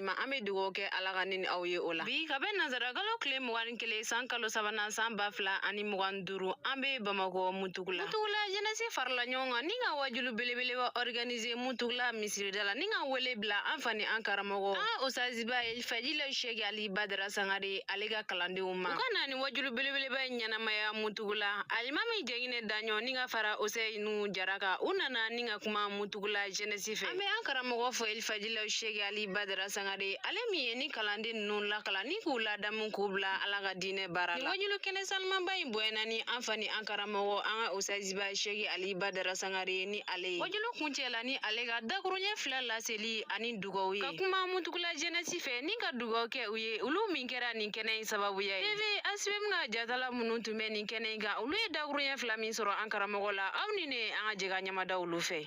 ma an bɛ dugawu kɛ ala ka ni aw ye o la bi ka bɛn nansarakalo tile mugan ni kelen san kalo sabanan san ba fila ani mugan duuru an bɛ bamakɔ mutugula mutugula jɛnɛsi farala ɲɔgɔn kan ni ka wajulu belebeleba organise mutugula misirida la ni ka wele bila an fa ni an karamɔgɔ an ka osaziba elifajila sheki ali badara sangare ale ka kalandenw ma u ka na ni wajulu belebeleba in ɲɛnamaya mutugula alimami jɛnginɛ daɲɔ ni ka fara useyinu jara kan u nana ni ka kuma mutugula jɛnɛsi fɛ an bɛ an karamɔgɔ fo elifaji la sheki ali badara sangare ale min ye ni kalanden ninnu lakalan ni k'u ladamu k'u bila ala ka diinɛ baara la nin wajulu kɛnɛ sanumanba in bonyana ni an fa ni an karamɔgɔ an ka osaziba sheki ali badara sangare ye ni ale ye wajulu kuncɛ la ni ale ka dakuruɲɛ fila laseli ani dugaw ye ka kuma mutugula jɛnɛsi fɛ ni ka dugaw kɛ u ye olu min kɛra nin kɛnɛ in sababuya ye tv asibem ka jatala minnu tun bɛ nin kɛnɛ in kan olu ye dakuruɲɛ fila min sɔrɔ an karamɔgɔ la aw ni ne an ka jɛ ka ɲamada olu fɛ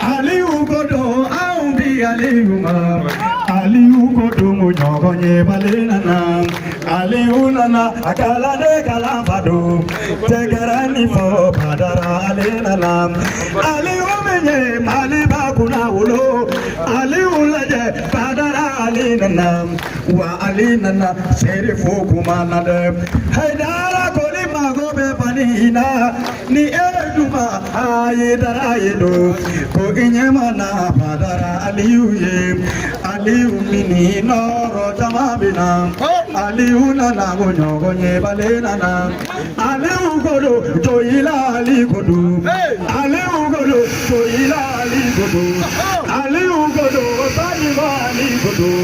Aliyu ko don anw bi Aliyu ma Aliyu ko don o ɲɔgɔn yebali nana Aliyu nana a kalanden kalanfa don tɛgɛrɛnin fɔ badara ale nana Aliyu min ye Maliba kunnawolo Aliyu lajɛ badara ale nana wa ale nana serifu kuma na dɛ Hayidara koli mago bɛ Mali in na. ni e duma hayidara ye don ko i ɲɛ mana badara aliyu ye aliyu mini nɔrɔ jama bɛ na aliyu nana ko ɲɔgɔn yebali nana aliyu ko don joyila ali ko don aliyu ko don joyila ali ko don aliyu ko don balima ali ko don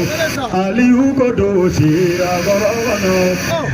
aliyu ko don sirakɔrɔ kɔnɔ.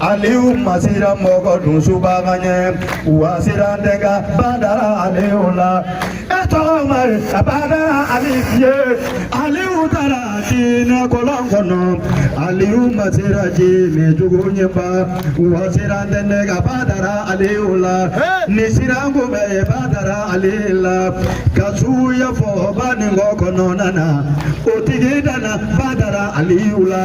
Aliou ma siran mɔgɔdun subaga ɲɛ wa siran tɛ n ka badara Aliou la e tɔgɔ mari a badara Ali ye Aliou taara jinɛ kɔlɔn kɔnɔ Aliou ma siran jinɛ jugu ɲɛ ba wa siran tɛ ne ka badara Aliou la ni siran ko bɛ ye badara Ali la ka suya fɔ Baninkɔ kɔnɔna na o tigi dana badara Aliou la.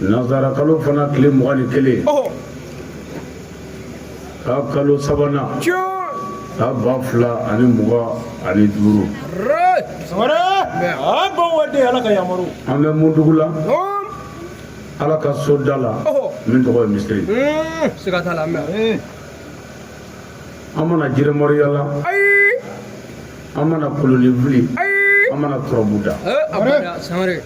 nanzarakalo fana tile mugan ni kelen ka kalo sabanan ka ba fila ani mugan ani duuru ala ka yamaru an bɛ mutugula ala ka so da la min tɔgɔ ye misiri an ma na jinɛmoriya la an ma na kolonin fili an ma na turabu da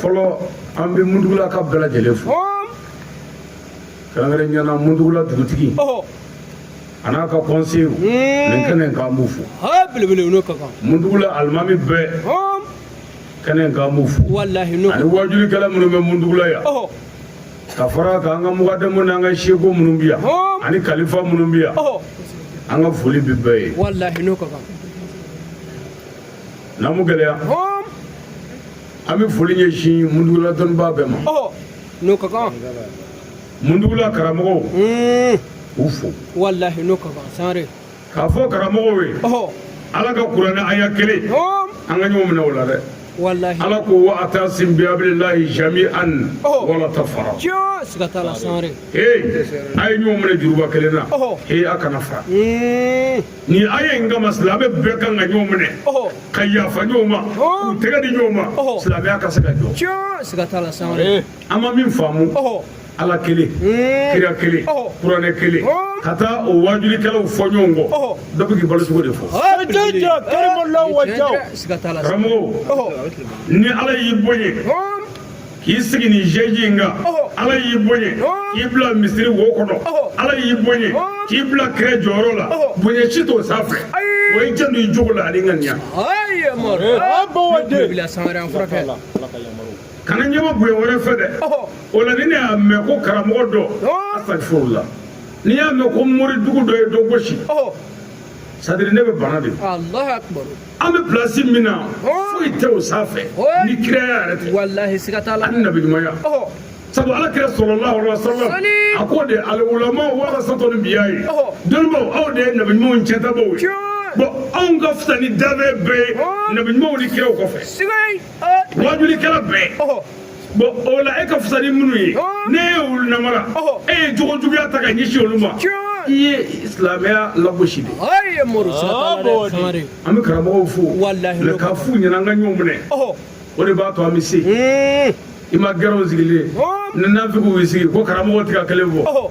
fɔlɔ an bɛ mundugulakaw bɛɛ lajɛlen fo kɛrɛnkɛrɛnnenya na mundugula dugutigi a n'a ka kɔnsew nin kɛnɛ in k'an b'u fo mundugula alimami bɛɛ kɛnɛ in k'an b'u fo ani wajulikɛla minnu bɛ mundugula yan ka fara kan an ka mugadamu n'an ka seko minnu bɛ yan ani kalifa minnu bɛ yan an ka foli bɛ bɛɛ ye n'an mu gɛlɛya an bɛ foli ɲɛsin mundugula dɔnnibaa bɛɛ ma n'o ka kan mundugula karamɔgɔw hmm. u fo walahi n'o ka kan sangare k'a fɔ karamɔgɔw ye ala ka kuranɛ aya kelen an ka ɲɔgɔn minɛ o la dɛ walahi ala ko wa atasim bi hablillahi jami'an wala tafara siga t'a la sangare ee a ye ɲɔgɔn minɛ juruba kelen na ee a kana fara hmm. nin aya in kama silamɛ bɛɛ kan ka ɲɔgɔn minɛ ka yafa ɲɔgɔn ma k'u tɛgɛ di ɲɔgɔn ma silamɛya ka se ka jɔ an ma min faamu ala kelen hmm. kira kelen kuranɛ kelen ka taa o wajulikɛlaw fɔ ɲɔgɔn kɔ dɔ bɛ k'i balo cogo de fɔ karamɔgɔ ni ala y'i bonya k'i sigi nin jeji in kan ala y'i bonya k'i bila misiri wo kɔnɔ ala y'i bonya k'i bila kira jɔyɔrɔ la bonya si t'o sanfɛ o ye jɛn i jogo la ani ŋaniya kana ɲɛma bonya wɛrɛ fɛ dɛ o la ni ne y'a mɛn ko karamɔgɔ dɔ asitafurula n'i y'a mɛn ko mori dugu dɔ ye dɔ gosi sadiri ne bɛ bana de alahu akubaru an bɛ pilasi min na foyi tɛ o sanfɛ ni kiraya yɛrɛ tɛ walahi siga t'a la ani nabiɲumanya sabu ala kira salalahu alaihi wasallam a ko de alulamau warasatul anbiya ye dɔnnibaw aw de ye nabiɲumanw ciyɛntabaw ye bon anw ka fisa ni danfɛn bɛɛ ye nabiɲumanw ni kiraw kɔfɛ waajulikɛla bɛɛ bon o la e ka fisa ni minnu ye n'e ye olu namara e ye jogo juguya ta ka ɲɛsin olu ma i ye silamɛya lagosi de an bɛ karamɔgɔw fo mɛ k'a f'u ɲɛ na an ka ɲɔgɔn minɛ o de b'a to an bɛ se i ma gɛrɛw sigilen ni nafigiw y'i sigi ko karamɔgɔ tɛ kan kelen fɔ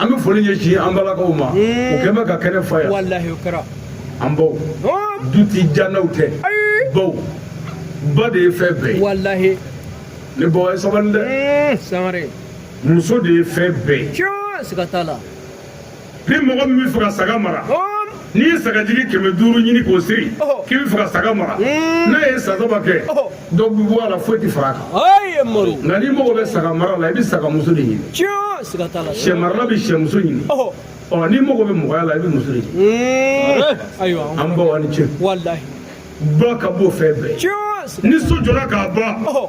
an bɛ foli ɲɛsin an balakaw ma o kɛlen bɛ ka kɛnɛ fa yan walahi o kɛra an baw du ti jannaw tɛ baw ba de ye fɛn bɛɛ ye walahi ne baw ye sabali dɛ sangare muso de ye fɛn bɛɛ ye siga t'a la ni mɔgɔ min b'a fɛ ka saga mara n'i ye sagajigi kɛmɛ duuru ɲini k'o siri k'i b'a fɛ ka saga mara n'a ye san saba kɛ dɔ bɛ bɔ a la foyi tɛ fara a kan nka n'i mago bɛ saga mara la i bɛ saga muso de ɲini sɛ marala bɛ sɛ muso ɲini ɔ n'i mago bɛ mɔgɔya la i bɛ muso de ɲini an baw aw ni ce ba ka bon fɛn bɛɛ ni so jɔra k'a ban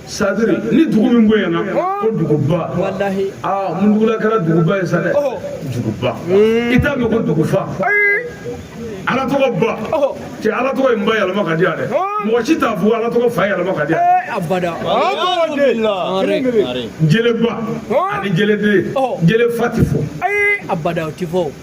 sadiri ni dugu min bonyana ko duguba aa muntugula kɛra duguba ye sa dɛ duguba i t'a mɛn ko dugufa ala tɔgɔ ba cɛ ala tɔgɔ in ba yɛlɛma ka di yan dɛ mɔgɔ si t'a fɔ ala tɔgɔ fa yɛlɛma ka di yan abada jeleba ani jeleden jelefa ti fɔ abada o ti fɔ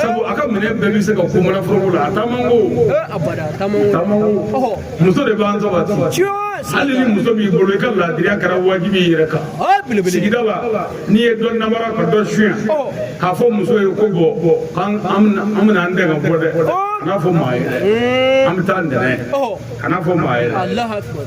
sabu a ka minɛn bɛɛ bɛ se ka kun manaforoko la a taamanko taamanko muso de b'an sabati hali ni muso b'i bolo i ka laadiriya kɛra wajibi i yɛrɛ kan sigida la n'i ye dɔ namara ka dɔ suɲɛ k'a fɔ muso ye ko bon k'an an bɛna an dɛn ka bɔ dɛ kan'a fɔ maa ye dɛ an bɛ taa ntɛnɛn kan'a fɔ maa ye dɛ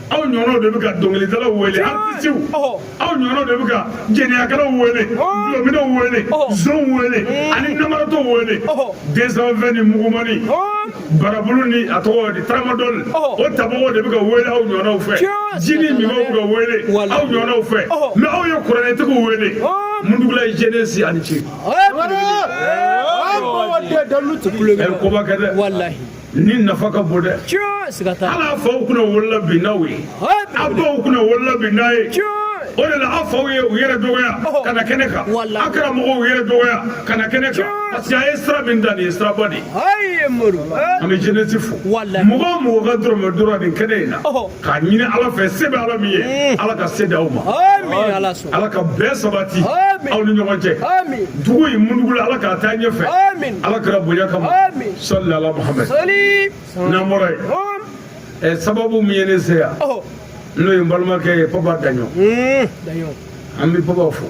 aw ɲɔgɔnw de bɛ ka dɔnkilidalaw wele artisiw aw ɲɔgɔnw de bɛ ka jɛnɛyakɛlaw wele dulɔminnaw wele zonw wele ani namaratɔw wele deux cent vingt ni mugumani barabulu ni a tɔgɔ di taramadɔli o tabagaw de bɛ ka wele aw ɲɔgɔnw fɛ jini minnaw bɛ ka wele aw ɲɔgɔnw fɛ mɛ aw ye kuranɛtigiw wele muntugula ye jɛnɛsi aw ni ce. a ye koba kɛ dɛ. walahi. nin nafa ka bon dɛ ala faw kunnawolola bi n'aw ye a baw kunnawolola bi n'aw ye o de la aw faw ye u yɛrɛ dɔgɔya ka na kɛnɛ kan a karamɔgɔw y'u yɛrɛ dɔgɔya ka na kɛnɛ kan parce que a ye sira min ta nin ye siraba de ye an bɛ jɛnɛsi fo mɔgɔ o mɔgɔ ka dɔrɔmɛ donna nin kɛnɛ in na k'a ɲini ala fɛ se bɛ ala min ye ala ka se di aw ma ala ka bɛn sabati aw ni ɲɔgɔn cɛ dugu in muntugula ala k'a taa ɲɛfɛ ala kira bonya kama sɔli ala muhamɛd n'an bɔra yen sababu min ye ne se yan n'o ye n balimakɛ ye papa daɲɔ an bɛ papa fo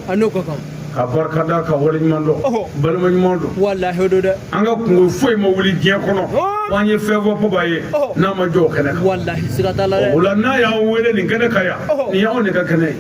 k'a barika da k'a waleɲuman dɔn balima ɲuman don walahi o don dɛ an ka kungo foyi ma wuli diɲɛ kɔnɔ ko an ye fɛn fɔ papa ye n'a ma jɔ o kɛnɛ kan walahi siga t'a la dɛ o la n'a y'an wele nin kɛnɛ kan yan nin y'anw de ka kɛnɛ ye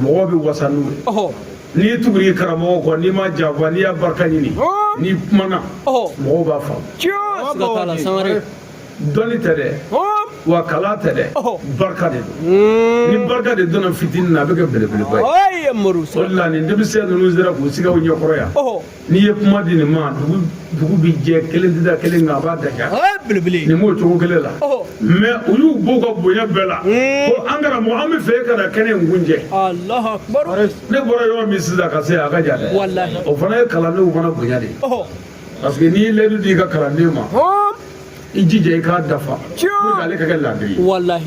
mɔgɔw bɛ wasa n'u ye n'i y'i tugu i karamɔgɔ kɔ n'i m'a janfa n'i y'a barika ɲini n'i kumana mɔgɔw b'a faamu dɔnni tɛ dɛ wa kalan tɛ dɛ barika de don hmm. ni barika de donna fitinin na a bɛ kɛ belebeleba ye o de la nin denmisɛn ninnu sera k'u sigi aw ɲɛkɔrɔ yan n'i ye kuma di nin ma dugu dugu bɛ jɛ kelen tɛ da kelen nka a b'a daja belebele nin b'o cogo kelen la mɛ u y'u b'u ka bonya bɛɛ la ko an karamɔgɔ an b'a fɛ e ka na kɛnɛ in kuncɛ ne bɔra yɔrɔ min sisan ka se a ka jan dɛ o fana ye kalandenw fana bonya de ye parce que n'i ye layidu di i ka kalanden ma i jija i k'a dafa pour que ale ka kɛ laadiri ye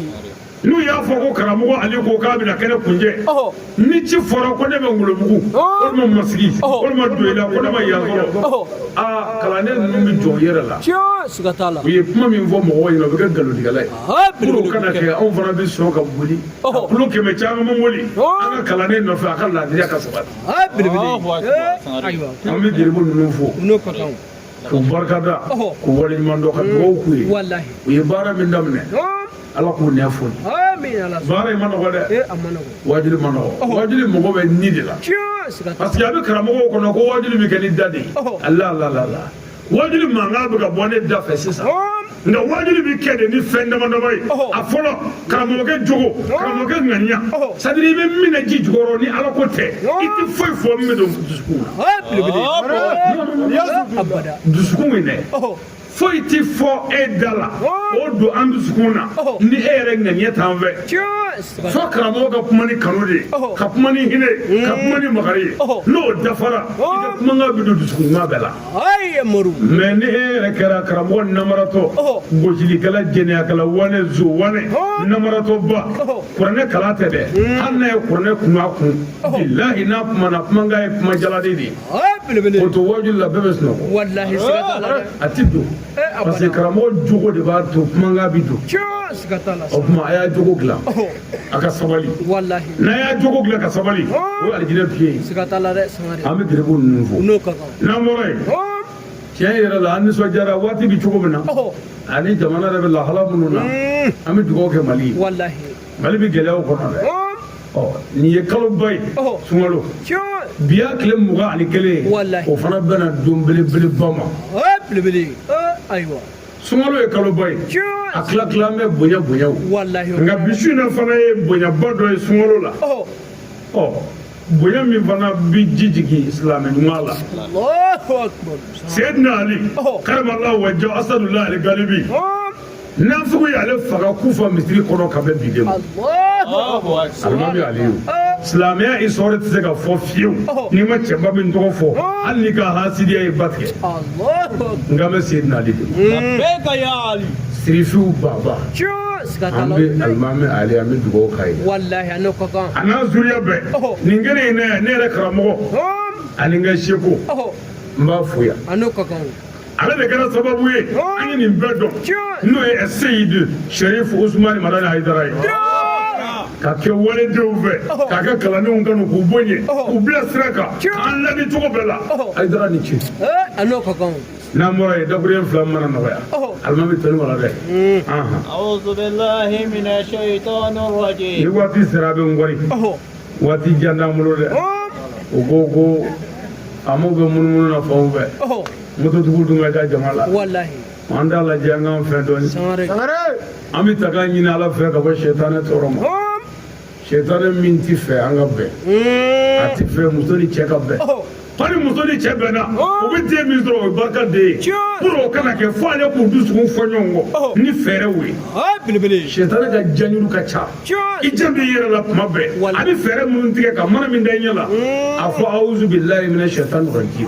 n'u y'a fɔ ko karamɔgɔ ale ko k'a bɛna kɛnɛ kuncɛ ni ci fɔra ko ne bɛ ngolobugu walima masigi walima doyila ko ne ma yan sɔrɔ aa kalanden ninnu bɛ jɔ u yɛrɛ la siga t'a la u ye kuma min fɔ mɔgɔw ɲɛna o bɛ kɛ nkalontigɛla ye pour o kana kɛ anw fana bɛ sɔn ka boli ka kilo kɛmɛ camanba boli an ka kalanden nɔfɛ a ka laadiriya ka sabati an bɛ geribu ninnu fo k'u barikada k'u waleɲumandɔn ka dugawu k'u ye u ye baara min daminɛ ala k'u nɛ foni baara in man nɔgɔ dɛ wajuli man nɔgɔ wajuli mago bɛ ni de la parce que a bɛ karamɔgɔw kɔnɔ ko wajuli bɛ kɛ ni da de ye ala la la la wajuli mankan bɛ ka bɔ ne da fɛ sisan nka wajuli bɛ kɛ de ni fɛn dama dama ye a fɔlɔ karamɔgɔkɛ jogo karamɔgɔkɛ ŋaniya c'est-à-dire i bɛ min na ji jukɔrɔ ni ala ko tɛ i tɛ foyi fɔ min bɛ don dusukun na dusukun min dɛ foyi tɛ fɔ e da la o don an dusukun na ni e yɛrɛ ŋaniya t'an fɛ fo karamɔgɔ ka kuma ni kanu de ye ka kuma ni hinɛ ka kuma ni makari ye n'o dafara i ka kumakan bɛ don dusukun ɲuman bɛɛ la mɛ ni e yɛrɛ kɛra karamɔgɔ namaratɔ gosilikɛla jɛnɛyakɛla wane zo wane namaratɔba kuranɛ kalan tɛ dɛ hmm. hali n'a ye kuranɛ kun a kun bilahi n'a kumana kumakan ye kuma jalan de ye o to wajuli la bɛɛ bɛ sunɔgɔ a ti don eh, parce que karamɔgɔ jogo de b'a to kumakan bi don o tuma a y'a jogo dilan a ka sabali n'a y'a jogo dilan ka sabali o ye alijinɛ piye ye an bɛ gerebu ninnu fo n'an bɔra yen tiɲɛ yɛrɛ la an nisɔndiyara waati bɛ cogo min na ani jamana yɛrɛ bɛ lahala minnu na an bɛ dugawu kɛ mali ye mali bɛ gɛlɛyaw kɔnɔ dɛ ɔ nin ye kaloba ye sunkalo bi y'a tile mugan ani kelen ye o fana bɛnna don belebeleba ma ayiwa sunkalo ye kaloba ye a tila tila an bɛ bonya bonyaw nka bi su in na fana ye bonyaba dɔ ye sunkalo la ɔ bonya min fana bi ji jigin silamɛ ɲuman la seyidina ali karamallahu wajhahu asadullah al galibi nafigi y'ale faga kufa misiri kɔnɔ ka bɛn bi de ma alimami aliyu silamɛya histoire tɛ se ka fɔ fiyewu n'i ma cɛba min tɔgɔ fɔ hali n'i ka hasidiya ye ba tigɛ n kan bɛ seyidina ali de ma sirifiw baba An bɛ alimami Ali an bɛ dugawu k'a ye walayi a n'a zuriya bɛɛ nin kelen in ne yɛrɛ karamɔgɔ ani n ka seku n b'a fo yan ale de kɛra sababu ye an ye nin bɛɛ dɔn n'o ye Seyidu Sɛrifu Usumani Madani Ayidara ye ka kɛ waledenw fɛ k'a kɛ kalandenw kanu k'u bonya k'u bila sira kan k'an laadi cogo bɛɛ la Ayidara ni ce n'an bɔra yen dakuruyɛn fila mana nɔgɔya alimami tɛni wala dɛ ni waati sera a bɛ n kɔri waati jan t'an bolo dɛ u ko ko faamaw bɛ munumunu na fanw fɛ mototigiw dun ka ca jama la an t'a lajɛ an k'an fɛn dɔɔni an bɛ ta k'an ɲini ala fɛ ka bɔ sɛtanɛ tɔɔrɔ ma sɛtanɛ min t'a fɛ an ka bɛn a t'a fɛ muso ni cɛ ka bɛn hali muso ni cɛ bɛnna o bɛ den min sɔrɔ o ye barikaden ye pour o kana kɛ fo ale k'u dusukun fɔ ɲɔgɔn kɔ ni fɛɛrɛw ye sɛtanɛ ka janjuru ka ca i janto i yɛrɛ la tuma bɛɛ a bɛ fɛɛrɛ minnu tigɛ ka mana min da i ɲɛ la a fɔ awuzu bilayi mina sɛtani rajimi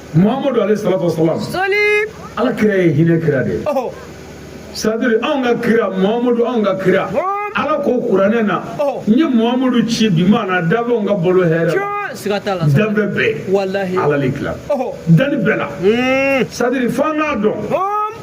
Muhamadu aleyi salatu wa salamu sɔli ala kira ye hinɛ kira de ye sadiri anw ka kira Muhamadu anw ka kira ala ko kuranɛ na n ye Muhamadu ci bi ma na danfɛnw ka balo hɛrɛ la danfɛn bɛɛ ala de kila dani bɛɛ la sadiri f'an k'a dɔn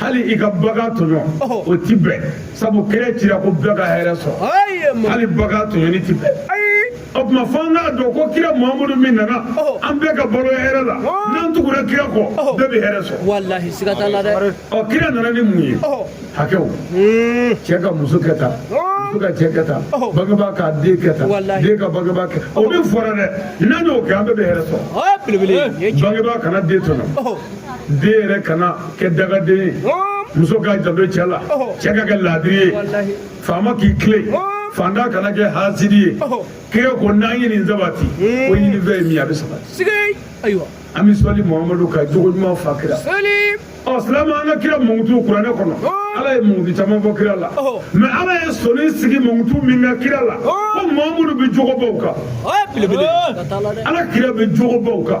hali i ka bagan tɔɲɔ o ti bɛn sabu kira cira ko bɛɛ ka hɛrɛ sɔrɔ hali bagan tɔɲɔni ti bɛn o tuma fo an k'a dɔn ko kira Muhamadu min nana an bɛɛ ka balo hɛrɛ la n'an tugura kira kɔ bɛɛ bɛ hɛrɛ sɔrɔ walahi siga t'a la dɛ ɔ kira nana ni mun ye hakɛw cɛ ka muso kɛ tan muso ka cɛ kɛ tan bangebaa k'a den kɛ tan den ka bangebaa kɛ o min fɔra dɛ n'an y'o kɛ an bɛɛ bɛ hɛrɛ sɔrɔ bangebaa kana den tɔɲɔ den yɛrɛ kana kɛ dangaden ye muso ka janto cɛ la cɛ ka kɛ laadiri ye faama k'i tilen faantan kana kɛ hasidi ye kira ko n'an ye nin sabati ko ɲini fɛn ye min a bɛ sabati an bɛ sɔli muhamadu ka jogo ɲuman fa kira ɔ silamɛ an ka kira mankutu kuranɛ kɔnɔ ala ye mankutu caman fɔ kira la mais ala ye sɔni sigi mankutu min kan kira la ko Muhamadu bɛ jogo baw kan ala kira bɛ jogo baw kan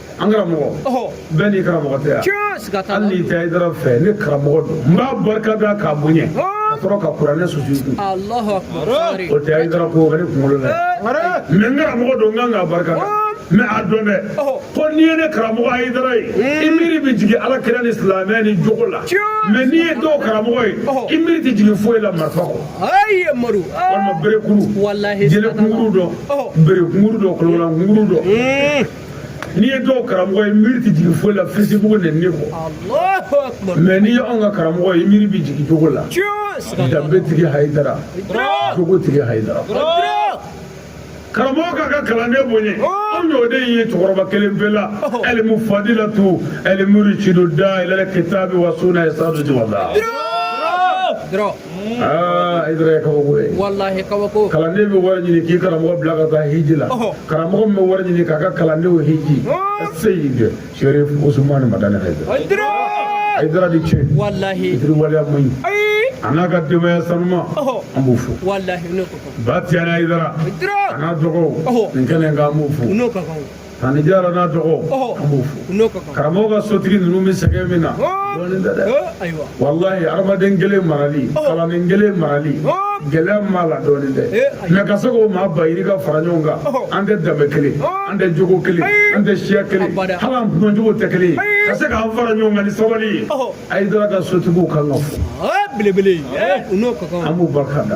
an karamɔgɔ bɛɛ n'i karamɔgɔ tɛ yan hali n'i tɛ ayidara fɛ ne karamɔgɔ don n b'a barika da k'a bonya ka sɔrɔ ka kuranɛ susu kun o tɛ ayidara ko ka ne kunkolo la mais n karamɔgɔ don n kan k'a barika da mais a dɔn dɛ ko n'i ye ne karamɔgɔ ayidara ye i miiri bɛ jigin ala kira ni silamɛya ni jogo la mais n'i ye dɔw karamɔgɔ ye i miiri tɛ jigin foyi la marifa kɔ walima berekuru jele kunkuru dɔ berekuru dɔ kolola kunkuru dɔ n'i ye dɔw karamɔgɔ ye i miiri tɛ jigin foyi la fesibugu nɛni kɔ mɛ n'i ye anw ka karamɔgɔ ye i miiri bɛ jigin jogo la danbe tigi hayidara jogo tigi hayidara karamɔgɔ k'a ka kalanden bonya anw y'o de ye cɛkɔrɔba kelen pe la ɛlimu fadilatu ɛlimuri cido da ilal kitabi wa suna ya sadu jumada aa Ayidara ye kabako ye walahi kabako kalanden bɛ wari ɲini k'i karamɔgɔ bila ka taa hiji la karamɔgɔ min bɛ wari ɲini k'a ka kalandenw hiji Aseyidi Serifu Usumani Madani Ayidara Ayidara i ni ce walahi fitiriwaleya man ɲi a n'a ka denbaya sanuma an b'u fo walahi Ba Tijani Ayidara a n'a dɔgɔw nin kɛnɛ in kan an b'u fo Tani Jara n'a dɔgɔw an b'u fo karamɔgɔ ka sotigi ninnu bɛ sɛgɛn min na dɔɔnin tɛ dɛ walayi adamaden kelen marali kalanden kelen marali gɛlɛya min b'a la dɔɔnin tɛ mɛ ka se k'o maa ba yirika fara ɲɔgɔn kan an tɛ danbe kelen an tɛ jogo kelen an tɛ siya kelen hali an duncogo tɛ kelen ka se k'an fara ɲɔgɔn kan ni sabali ye Ayidara ka sotigiw kan ka fo belebele an b'u barika da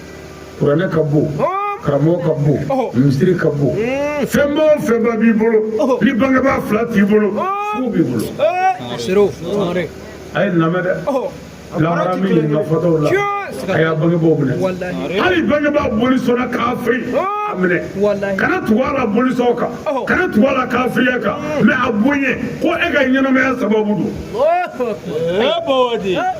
kuranɛ ka bon karamɔgɔ ka bon misiri ka bon fɛnba o fɛnba b'i bolo ni bangebaa fila t'i bolo fu b'i bolo a y'a lamɛn dɛ lahara min ye nka fɔtɔw la a y'a bangebaaw minɛ hali bangebaa bolisɔnna kafiri a minɛ kana tugu a la bolisɔn kan kana tugu a la kafiriya kan mɛ a bonya ko e ka ɲɛnamaya sababu don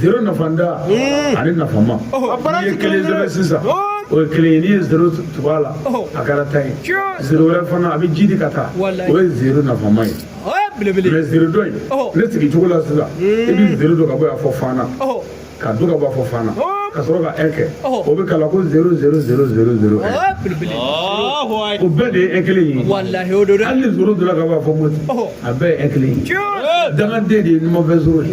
zero nafantan ani nafama n'i ye kelen sɛbɛn sisan o ye kelen ye n'i ye zero tugu a la a kɛra tan ye zero wɛrɛ fana a bɛ jiidi ka taa o ye zero nafama ye mɛ zero dɔ in ne sigi cogo la sisan i bɛ zero don ka bɔ yan fo Fana ka don ka bɔ fo Fana ka sɔrɔ ka ɛn kɛ o bɛ kalan ko zero zero zero zero zero o bɛɛ de ye ɛn kelen ye hali ni zero donna ka bɔ fo Moti a bɛɛ ye ɛn kelen ye dangaden de ye numanfɛ zero ye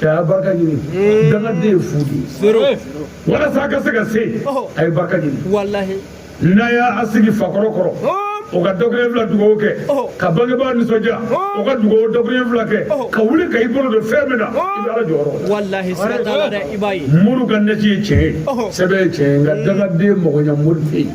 cɛ a ye barika ɲini dangaden ye fu de ye walasa a ka se ka se a ye barika ɲini n'a y'a sigi fakɔrɔ kɔrɔ o ka daɲɛ fila dugawu kɛ ka bangebaa nisɔndiya o ka dugawu daɲɛ fila kɛ ka wuli ka i bolo don fɛn min na i bɛ ala jɔyɔrɔ la mori ka nasi ye tiɲɛ ye sɛbɛn ye tiɲɛ ye nka dangaden mɔgɔɲa mori tɛ yen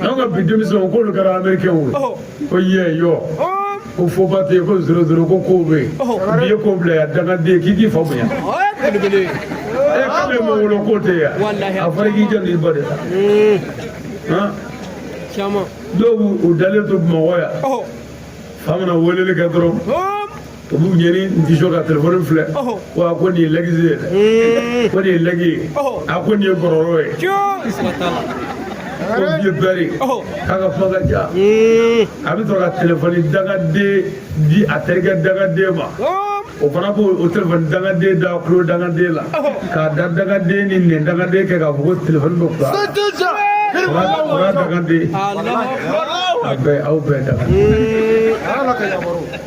an ka bi denmisɛnw k'olu kɛra amerikɛnw ye ko yɛ yɔ ko foba tɛ yen ko zero zero ko kow bɛ yen n'i ye ko bila yan dangaden k'i k'i fa bonya ɛ k'ale ma wolo k'o tɛ yan a fɔra k'i jɔ n'i ba de la dɔw b'u dalen to Bamakɔ yan fa mana weleli kɛ dɔrɔn olu ɲɛ ni n tɛ sɔn ka telefɔni filɛ wa ko nin ye lɛgisi ye dɛ ko nin ye lɛgi ye a ko nin ye gɔrɔrɔ ye ko vieux père k'a ka kuma ka ca a bɛ sɔrɔ ka telefɔni dangaden di a terikɛ dangaden ma o fana b'o o telefɔni dangaden da kulo dangaden la k'a da dangaden ni nɛn dangaden kɛ k'a fɔ ko telefɔni bɛ fila o y'a dangaden a bɛɛ aw bɛɛ dangaden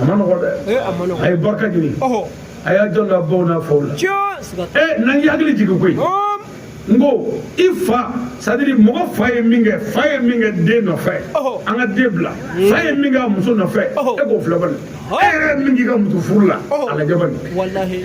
a ma nɔgɔ dɛ ee a ma nɔgɔ a ye barika ɲini ɔhɔ a y'a jɔ la baw n'a faw la tiɲɛ siga t'a ee n'a y'a hakili jigin koyi la. Ɔm, n ko i fa sadiri mɔgɔ fa ye min kɛ fa ye min kɛ den nɔfɛ Ɔhɔ. an ka den bila fa ye min kɛ a muso nɔfɛ Ɔhɔ. e k'o filɛ bani Ɔhɔ. e yɛrɛ ye min k'i ka muso furu la Ɔhɔ. a lajɛ bani walahi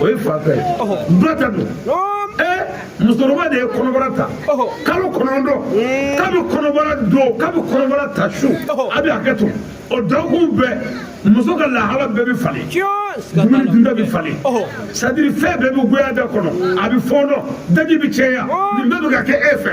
o ye fa ta ye ba ta don musokɔrɔba de ye kɔnɔbara ta kalo kɔnɔntɔn kabi kɔnɔbara don kabi kɔnɔbara ta su a bɛ hakɛ to o dɔgɔkun bɛɛ muso ka lahala bɛɛ bɛ falen dumuni dunta bɛ falen sadiri fɛn bɛɛ bɛ goya da kɔnɔ a bɛ fɔɔnɔ daji bɛ cɛya nin bɛɛ bɛ ka kɛ e fɛ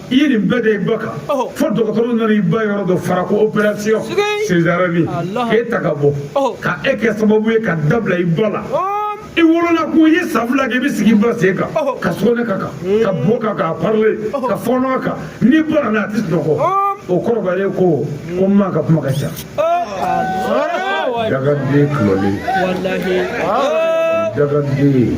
i ye nin bɛɛ da i ba kan fo dɔgɔtɔrɔw nana i ba yɔrɔ dɔ fara ko operasiyɔn sezarɛni k'e ta ka bɔ ka e kɛ sababu ye ka da bila i ba la i wolola kɔ i ye san fila kɛ i bɛ sigi i ba sen kan ka sɔgɔnɛ k'a kan ka bo k'a kan a parle ka fɔɔnɔ a kan n'i banana a tɛ sunɔgɔ o kɔrɔbalen kɔ ko n ma ka kuma ka ca dangaden kulɔlen dangaden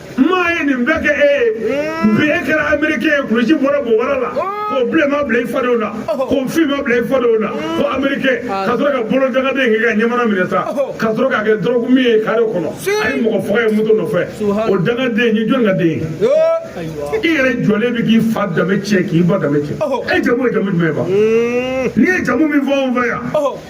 maa ye nin bɛɛ kɛ e ye bi e kɛra amerikɛn ye kulusi bɔra bobara la k'o bilenma bila i fadenw na k'o finma bila i fadenw na ko amerikɛn ka sɔrɔ ka bolo dangaden k'i ka ɲɛmana minɛ sa ka sɔrɔ k'a kɛ dɔrɔgu min ye kare kɔnɔ a ye mɔgɔ faga ye moto nɔfɛ o dangaden ye jɔn ka den ye i yɛrɛ jɔlen bɛ k'i fa danbe tiɲɛ k'i ba danbe tiɲɛ e jamu ye jamu jumɛn ye ba n'i ye jamu min fɔ anw fɛ yan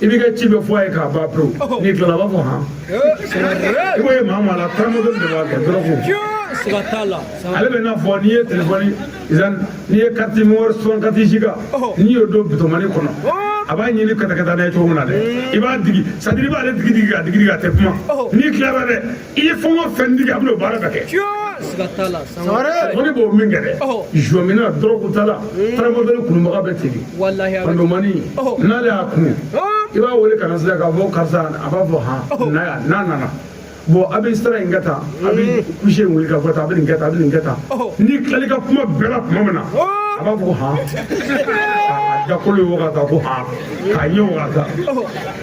i b'i ka ci bɛɛ fɔ a ye k'a ban pewu n'i tilala a b'a fɔ han i b'o ye maa maa la taramadɔli b'a kɛ dɔrɔgu siga t'a la ale bɛ n'a fɔ n'i ye telefɔni n'i ye carte mémoire soixante-quatre giga n'i y'o don bitomani kɔnɔ a b'a ɲini katakata n'a ye cogo min na dɛ i b'a digi sadiri i b'ale digi digi ka digi digi a tɛ kuma n'i tilara dɛ i ye fɛn o fɛn digi a bɛna o baara bɛɛ kɛ siga t'a la o de b'o min kɛ dɛ jɔmina dɔrɔgu t'a la taramadɔli kunubaga bɛ tigi pandomani n'ale y'a kunu i b'a wele kana sira k'a fɔ karisa a b'a fɔ han na yan n'a nana bɔn a bɛ sira in kɛ tan a bɛ kusi in wuli ka fɔ tan a bɛ nin kɛ tan a bɛ nin kɛ tan n'i tilala i ka kuma bɛɛ la tuma min na a b'a fɔ han a dakolo ye wagata ko han k'a ye wagata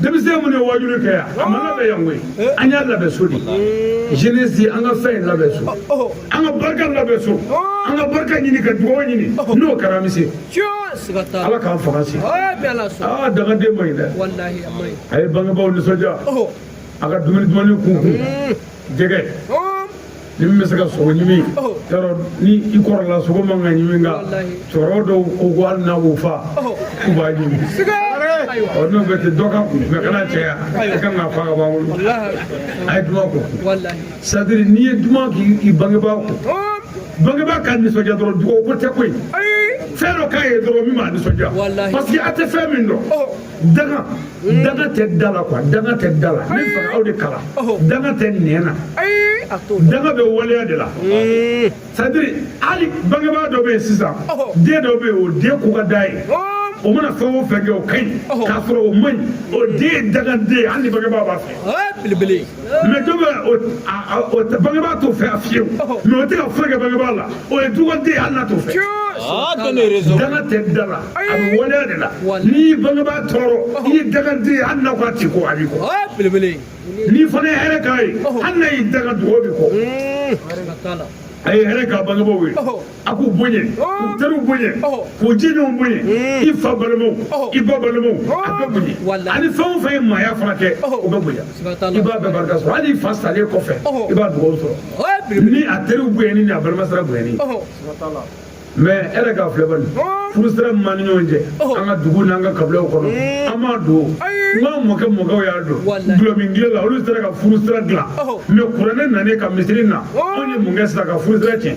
denmisɛn minnu ye wajuli kɛ yan a ma labɛn yan koyi an y'a labɛn so de jeunesse an ka fɛn labɛn so an ka barika labɛn so an ka barika ɲini ka dugawu ɲini n'o kɛra an bɛ se ala ka faransi aa dangaden man ɲi dɛ a ye bangebaaw nisɔndiya a ka dumuni dumannin k'u kun jɛgɛ ni min bɛ se ka sogo ɲimi yɔrɔ ni i kɔrɔla sogo man ka ɲimi nka cɛkɔrɔba dɔw ko ko hali n'a b'o fa k'u b'a ɲimi ɔ n'o bɛ ten dɔ k'a kun mɛ kana caya i kan k'a fa k'a b'an bolo a ye duman ko sadiri n'i ye duman k'i bangebaa ko bangebaa ka nisɔndiya dɔrɔn dugawu ko tɛ koyi fɛn dɔ k'a ye dɔrɔn min b'a nisɔndiya parce que a tɛ fɛn min dɔn danga danga tɛ da la quoi danga tɛ da la ne fɛ aw de kalan danga tɛ nɛn na danga bɛ waleya de la sadiri hali bangebaa dɔ bɛ yen sisan den dɔ bɛ yen o den ko ka d'a ye o mana fɛn o fɛn kɛ o ka ɲi k'a sɔrɔ o man ɲi o den ye dangaden ye hali ni bangebaa b'a fɛ belebele mɛ dɔ bɛ o bangebaa t'o fɛ fewu mɛ o tɛ ka foyi kɛ bangebaa la o ye dugawuden ye hali n'a t'o fɛ danga tɛ da la a bɛ waleya de la n'i y'i bangebaa tɔɔrɔ i ye dangaden ye hali n'a ko a t'i kɔ a b'i kɔ n'i fana ye hɛrɛ k'a ye hali n'a y'i danga dugawu b'i kɔ a ye hɛrɛ k'a bangebaaw ye a k'u boɲɛ k'u teriw boɲɛ k'u jɛɲɔgɔnw boɲɛ i fa balimaw i ba balimaw a bɛɛ boɲɛ ani fɛn o fɛn ye maaya fana kɛ o bɛɛ boɲɛ i b'a bɛɛ barika sɔrɔ hali i fa salen kɔfɛ i b'a dugawu sɔrɔ ni a teriw boɲɛni ni a balima sira boɲɛni mɛ e yɛrɛ k'a filɛ bani furu sira min b'an ni ɲɔgɔn cɛ an ka dugu n'an ka kabilaw kɔnɔ an m'a dɔn nka mɔkɛ mɔkɛw y'a dɔn dɔlɔmin tile la olu sera ka furu sira dilan mɛ kuranɛ nanen ka misiri na anw ye mun kɛ sisan ka furu sira tiɲɛ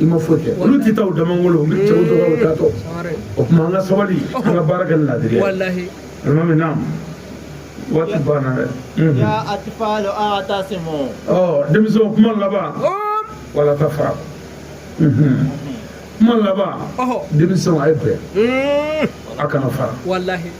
i ma foyi kɛ olu tɛ taa u damangolo u bɛ cɛw dɔgɔ u taatɔ o tuma an ka sabali an ka baara kɛ ni laadiriya alimami naam waati banna dɛ ya atfalu i'tasimu denmisɛnw kuma laban wala tafara kuma laban denmisɛnw a ye bɛn a kana fara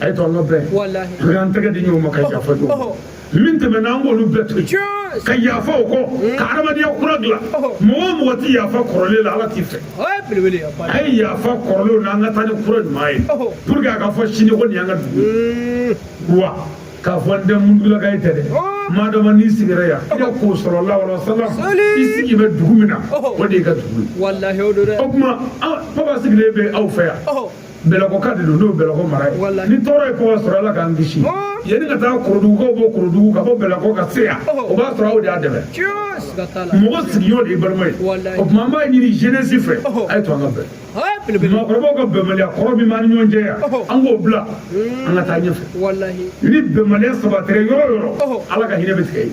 a ye to an ka bɛn an k'an tɛgɛ di ɲɔgɔn ma ka yafa ɲɔgɔn ma min tɛmɛna an k'olu bɛɛ to yen ka yafa o kɔ ka adamadenya kura dilan mɔgɔ o mɔgɔ tɛ yafa kɔrɔlen la ala t'i fɛ a ye yafa kɔrɔlenw na an ka taa ni kura ɲuman ye pour que a ka fɔ sini ko nin y'an ka dugu ye wa k'a fɔ n tɛ mundulaka ye tɛ dɛ maa dɔ ma n'i sigira yan i ka k'o sɔrɔ lawala salam i sigi bɛ dugu min na o de y'i ka dugu ye o tuma papa sigilen bɛ aw fɛ yan bɛlɛkoka de don n'o bɛlɛko mara ye ni tɔɔrɔ ye kɔba sɔrɔ ala k'an kisi yanni ka taa korodugukaw bɔ korodugu ka bɔ bɛlɛko ka se yan o b'a sɔrɔ aw de y'a dɛmɛ mɔgɔ sigiɲɔgɔn de y'i balima ye o tuma an b'a ɲini jeunesse fɛ a ye to an ka bɛn maakɔrɔbaw ka bɛnbaliya kɔrɔ min b'an ni ɲɔgɔn cɛ yan an k'o bila an ka taa ɲɛfɛ ni bɛnbaliya sabatira yɔrɔ o yɔrɔ ala ka hinɛ bɛ tigɛ yen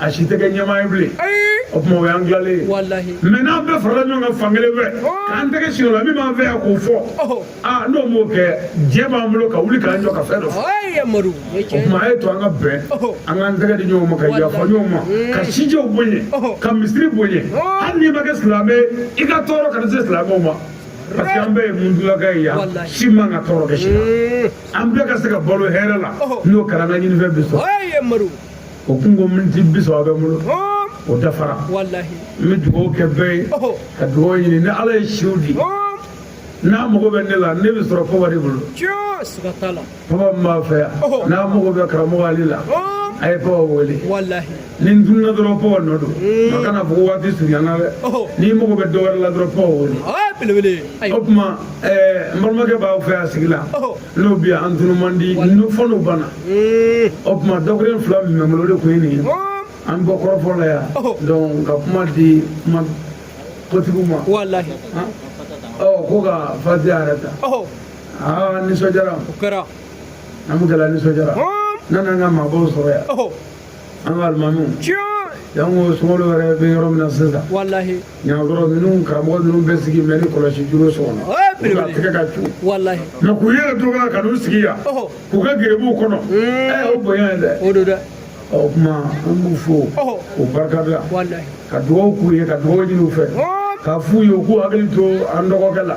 a si tɛ kɛ ɲɛmaa ye bilen o tuma o y'an tilalen ye mais n'an bɛɛ farala ɲɔgɔn kan fan kelen fɛ k'an tɛgɛ si o la min b'an fɛ yan k'o fɔ aa n'o m'o kɛ diɲɛ b'an bolo ka wuli k'an jɔ ka fɛn dɔ fɔ o tuma a ye to an ka bɛn an k'an tɛgɛ di ɲɔgɔn ma ka yafa ɲɔgɔn ma ka sijɛw bonya ka misiri bonya hali n'i ma kɛ silamɛ i ka tɔɔrɔ kana se silamɛw ma parce que an bɛɛ ye mundulaka ye yan si man kan ka tɔɔrɔ kɛ si la an bɛɛ ka se ka balo hɛrɛ la n'o kɛra an ka ɲinifɛn bɛ sɔrɔ o kun ko miniti bi saba bɛ n bolo o dafara n bɛ dugawu kɛ bɛɛ ye ka dugawu ɲini ni ala ye si di n'a mago bɛ ne la ne bɛ sɔrɔ kɔba de bolo kɔba min b'aw fɛ yan n'a mago bɛ karamɔgɔ ale la a ye kɔba wele ni n tununa dɔrɔn kɔba nɔ don mm. a kana fɔ waati surunyana dɛ n'i mago bɛ dɔ wɛrɛ la dɔrɔn kɔba wele o tuma n balimakɛ b'aw fɛ yan sigi la n'o bɛ yan an tunu man di n'o fo n'o banna o tuma dakuruɲɛ fila min bɛ n bolo o de tun ye nin ye an bɔ kɔrɔfɔ la yan donc ka kuma di kuma kotigiw ma walahi ɔ ko ka fatiha yɛrɛ ta aa nisɔndiyara o kɛra an bɛ gɛlɛya nisɔndiyara n'an n'an ka maabaw sɔrɔ yan an ka alimamiw yan ko sunkalo yɛrɛ bɛ yɔrɔ min na sisan walahi yan maakɔrɔ ninnu karamɔgɔ ninnu bɛ sigi mɛ ni kɔlɔsi juru so kɔnɔ u ka tɛgɛ ka cu walahi mais k'u yɛrɛ to ka ka n'u sigi yan k'u ka gerebuw kɔnɔ ɛ o bonya ye dɛ o don dɛ ɔ o kuma an b'u fo k'u barika da ka dugawu k'u ye ka dugawu ɲini u fɛ k'a f'u ye u k'u hakili to an dɔgɔkɛ la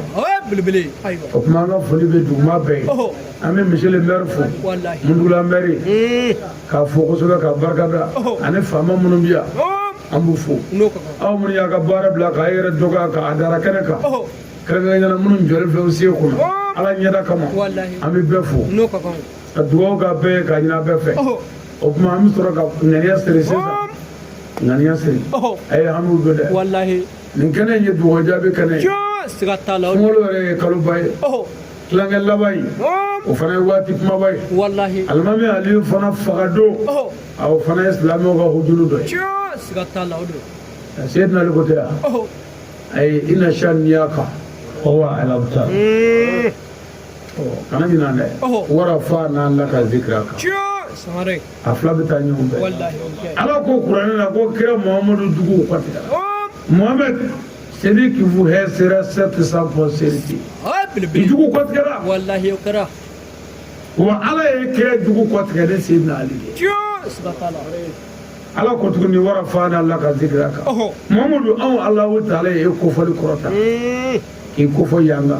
o ye belebele ayiwa o tuma an ka foli bɛ duguma bɛɛ ye ɔhɔ an bɛ monsieur le maire fo walahi mundugula maire ee k'a fo kosɛbɛ ka barika da Ɔhɔ. ani faama minnu bɛ yan ɔɔ an b'u fo n'o ka kan aw minnu y'a ka baara bila k'a yɛrɛ dɔgɔya k'a dara kɛnɛ kan ɔhɔ kɛrɛnkɛrɛnnenya la minnu jɔlen filɛ u sen kunna Ɔhɔ. ala ɲɛda kama walahi an bɛ bɛɛ fo n'o ka kan ka dugawu k'a bɛɛ ye k'a ɲin'a bɛɛ fɛ ɔhɔ o tuma an bɛ sɔrɔ ka ŋaniya siri sisan ɔɔ ŋaniya siri ɔhɔ a ye hamiw don dɛ walahi nin kɛnɛ in ye dugawu jaabi kɛnɛ ye siga t'a la sunkalo yɛrɛ ye kaloba ye tilancɛ laban in o fana ye waati kumaba ye walahi alimami aliyu fana faga don o fana ye silamɛw ka hujuru dɔ ye siga t'a la o don seyidina ali ko tɛ yan ayi ina saniyaka huwa alabutar kana ɲinan dɛ warafana laka zikiraka a fila bɛ taa ɲɔgɔn fɛ ala ko kuranɛ la ko kira muhamadu jugu kɔtigɛra muhamadu celui qui vous hait sera certes sans postérité i jugu kɔtigɛra wa ala ye kira jugu kɔtigɛ ni seydina ali ye ala ko tuguni wa rafana laka zikiraka muhamadu anw alahu taala ye e kofɔli kɔrɔta k'i kofɔ yanga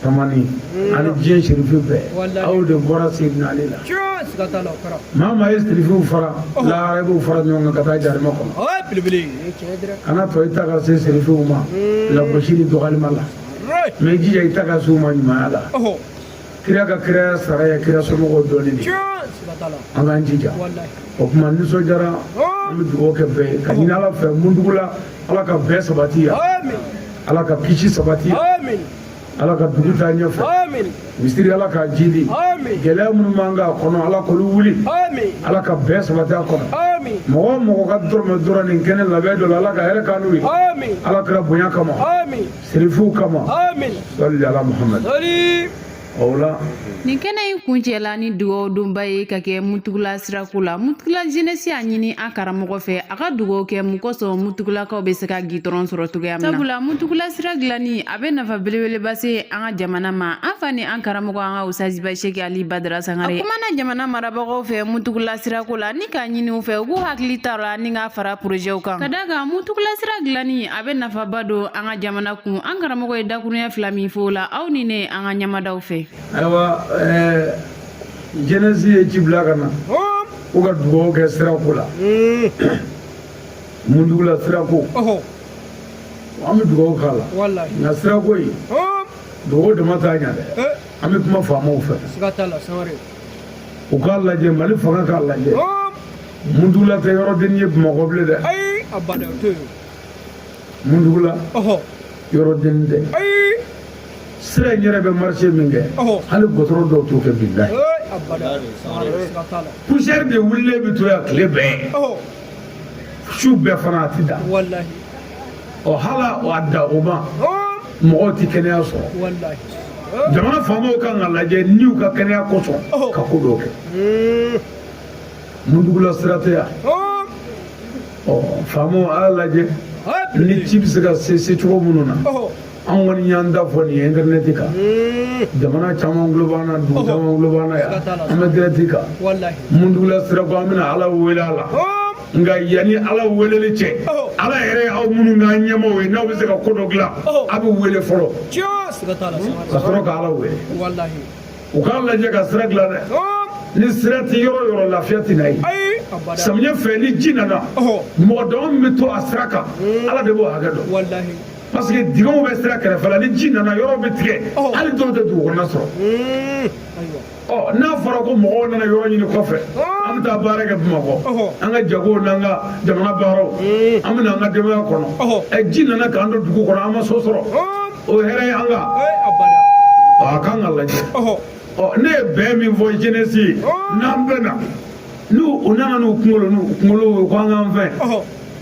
tamani ani diɲɛ sirifi bɛɛ aw de bɔra seydina ali la maa maa ye sirifiw fara lahara i b'u fara ɲɔgɔn kan ka taa jarima kɔnɔ kana to i ta ka se sirifiw ma lagosi ni dɔgɔlima la mais i jija i ta ka se u ma ɲumanya la kira ka kiraya sara ye kira somɔgɔw dɔnni de an k'an jija o tuma nisɔndiyara an bɛ dugawu kɛ bɛɛ ye ka ɲini ala fɛ mundugula ala ka bɛn sabati yan ala ka kisi sabati yan ala ka dugu taa ɲɛfɛ misiri ala k'a jidi gɛlɛya minnu b'an kan a kɔnɔ ala k'olu wuli ala ka bɛn sabati a kɔnɔ mɔgɔ mɔgɔ ka dɔrɔmɛ donna nin kɛnɛ labɛn dɔ la ala ka hɛrɛ k'an n'u ye ala kira bonya kama sirifuw kama salli ala muhamadu o la Nin kɛnɛ in kuncɛla ni dugaw donba ye ka kɛ mutugula sirako la mutugula jeunesse y'a ɲini an karamɔgɔ fɛ a ka dugaw kɛ mun kosɔn mutugulakaw bɛ se ka gitɔrɔn sɔrɔ cogoya min na sabula mutugula sira dilanni a bɛ nafa belebeleba se an ka jamana ma an fa ni an karamɔgɔ an ka usaziba sɛki ali badara sangare a kumana jamana marabagaw fɛ mutugula sirako la ni k'a ɲini u fɛ u k'u hakili t'a la ni k'a fara porozɛw kan ka d'a kan mutugula sira dilanni a bɛ nafaba don an ka jamana kun an karamɔgɔ ye dakuruɲɛ fila min fɔ o la aw ni ne an ka ɲɛ mad'o fɛ ayiwa jeunesse ye ci bila ka na ko ka dugaw kɛ sirako la mundugula sirako an bɛ dugaw k'a la nka sirako in dugaw dama t'a ɲɛ dɛ an bɛ kuma faamaw fɛ u k'a lajɛ mali fanga k'a lajɛ mundugula tɛ yɔrɔ den ye bamakɔ bilen dɛ mundugula yɔrɔ den tɛ sira in yɛrɛ bɛ marché min kɛ hali gitɔrɔn dɔw t'o kɛ bilahi poussière de wulilen bɛ to yan tile bɛɛ su bɛɛ fana a ti da ɔ hala a da o ma mɔgɔw tɛ kɛnɛya sɔrɔ jamana faamaw kan k'a lajɛ n'u ka kɛnɛya kosɔn ka ko dɔw kɛ mundugula sira tɛ yan ɔ faamaw a y'a lajɛ ni ci bɛ se ka se se cogo minnu na an kɔni y'an da fɔ nin ye intɛrɛnɛti kan jamana caman tulo b'an na dugu caman tulo b'an na yan an bɛ direct kan mundugula sira ko an bɛna ala wele a la nka yanni ala weleli cɛ ala yɛrɛ ye aw minnu k'an ɲɛmaaw ye n'aw bɛ se ka ko dɔ dilan a bɛ wele fɔlɔ ka sɔrɔ ka ala wele u k'a lajɛ ka sira dilan dɛ ni sira tɛ yɔrɔ yɔrɔ lafiya tɛ na yen samiyɛ fɛ ni ji nana mɔgɔ dama min bɛ to a sira kan ala de b'o hakɛ dɔn parce que dingɛw bɛ sira kɛrɛfɛ la ni ji nana yɔrɔ bɛ tigɛ hali dɔw tɛ dugu kɔnɔna sɔrɔ ɔ n'a fɔra ko mɔgɔw nana yɔrɔ ɲini kɔfɛ an bɛ taa baara kɛ bamakɔ an ka jagow n'an ka jamana baaraw an bɛ na an ka denbaya kɔnɔ ɛ ji nana k'an to dugu kɔnɔ an ma so sɔrɔ o hɛrɛ ye an ka ɔ a kan ka lajɛ ɔ ne ye bɛn min fɔ jeunesse ye n'an bɛnna n'u u nana n'u kunkolo n'u kunkolo ye ko an k'an fɛn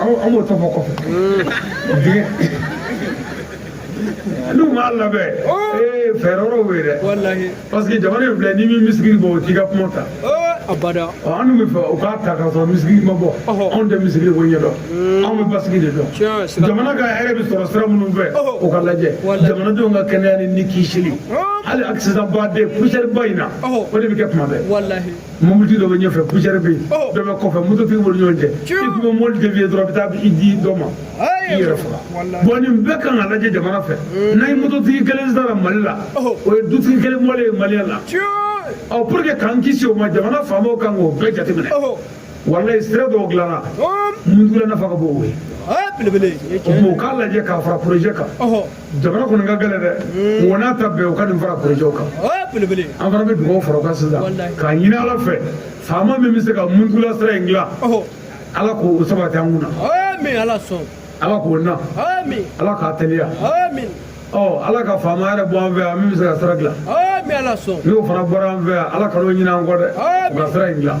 an b'o tɔ fɔ kɔfɛ dingɛ n'u m'a labɛn ee fɛɛrɛ wɛrɛw bɛ yen dɛ parce que jamana in filɛ n'i ma muscle bɔ u t'i ka kuma ta abada an dun b'a fɛ u k'a ta k'a sɔrɔ muscle ma bɔ anw tɛ muscle ko ɲɛdɔn anw bɛ basigi de dɔn jamana ka hɛrɛ bɛ sɔrɔ sira minnu fɛ o ka lajɛ jamanadenw ka kɛnɛya ni ni kisili hali accident ba de poussière ba in na o de bɛ kɛ tuma bɛɛ mɔbilitigi dɔ bɛ ɲɛfɛ poussière bɛ yen oh. dɔ bɛ kɔfɛ mototigi b'olu ɲɔgɔn cɛ i tun bɛ mɔbili dévier dɔrɔn i bɛ taa i di dɔ ma i yɛrɛ faga bon nin bɛɛ kan ka lajɛ jamana fɛ eh. n'a ye mototigi kelen sara mali la oh. o ye dutigi kelen bɔlen ye maliyɛn na ɔ pour que k'an kisi o ma jamana faamaw kan k'o bɛɛ jateminɛ oh. walayi sira dɔw dilanna mundugula nafa ka bon o ye o k'a lajɛ k'a fara projet kan jamana kɔni ka gɛlɛn dɛ hmm. o n'a ta bɛɛ u ka nin fara porojɛw kan an fana bɛ dugawu fara o kan sisan k'a ɲini ala fɛ faama min bɛ se ka mundugula sira in dilan ala k'o sabati an kun na ala sɔn ala k'o na ala k'a teliya ɔ ala ka faama yɛrɛ bɔ an fɛ yan min bɛ se ka sira dilan n'o fana bɔra an fɛ yan ala kan'o ɲinɛ an kɔ dɛ u ka sira in dilan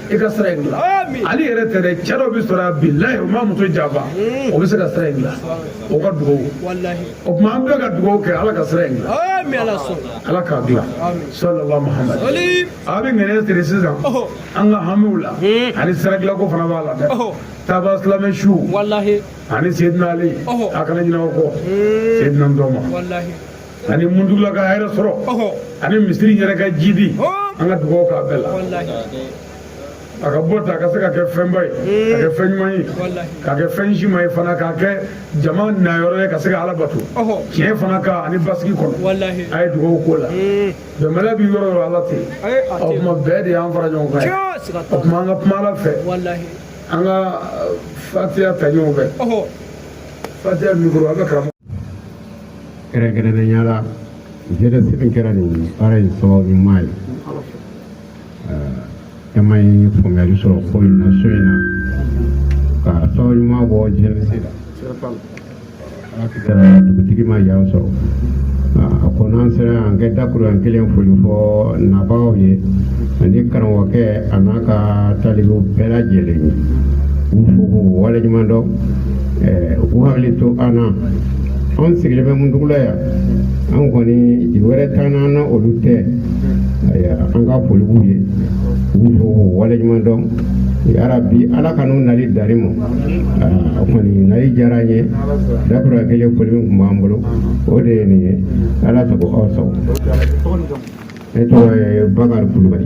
i ka sira in dilan ale yɛrɛ tɛ dɛ cɛ dɔ bɛ sɔrɔ yan bilayi o ma muso janfa o bɛ se ka sira in dilan o ka dugawu o tuma an bɛɛ ka dugawu kɛ ala ka sira in dilan ala k'a dilan salala mahamadu a bɛ ŋaniya siri sisan an ka hamiw la ani sira dilanko fana b'a la dɛ taba silamɛ su ani seyidina ali a kana ɲinɛ o kɔ seyidina dɔ ma ani muntugula ka hɛrɛ sɔrɔ ani misiri yɛrɛ ka jidi an ka dugawu k'a bɛɛ la a ka bɔ ta a ka se ka kɛ fɛnba ye ka kɛ fɛn ɲuman ye ka kɛ fɛn si ma ye fana ka kɛ jama nayɔrɔ ye ka se ka ala bato tiɲɛ fana kan ani basigi kɔnɔ a ye dugawu k'o la bɛnbaliya bɛ yɔrɔ yɔrɔ ala tɛ o tuma bɛn de y'an fara ɲɔgɔn kan o tuma an ka kuma ala fɛ an ka fatiya ta ɲɔgɔn fɛ fatiya mikoro a bɛ karamɔgɔ kɛrɛnkɛrɛnnenya la jeunesse min kɛra nin baara in sababu ɲuman ye caman ye faamuyali sɔrɔ ko in na so in na ka sababu ɲuman bɔ jeunesse la dugutigi ma yan sɔrɔ a ko n'an sera yan ka dakuruɲɛ kelen foli fɔ nabaaw ye ani karamɔgɔkɛ a n'a ka talibew bɛɛ lajɛlen ye u fo k'u waleɲuman dɔn u k'u hakili to an na anw sigilen bɛ muntugula yan an kɔni jigi wɛrɛ t'an na an na olu tɛ an ka foli b'u ye u fo k'u waleɲuman dɔn yarabi ala ka n'u nali dari ma u kɔni nali diyara an ye dakuruɲɛ kelen foli min tun b'an bolo o de ye nin ye ala sago aw sago ne tɔgɔ ye bakari kulubali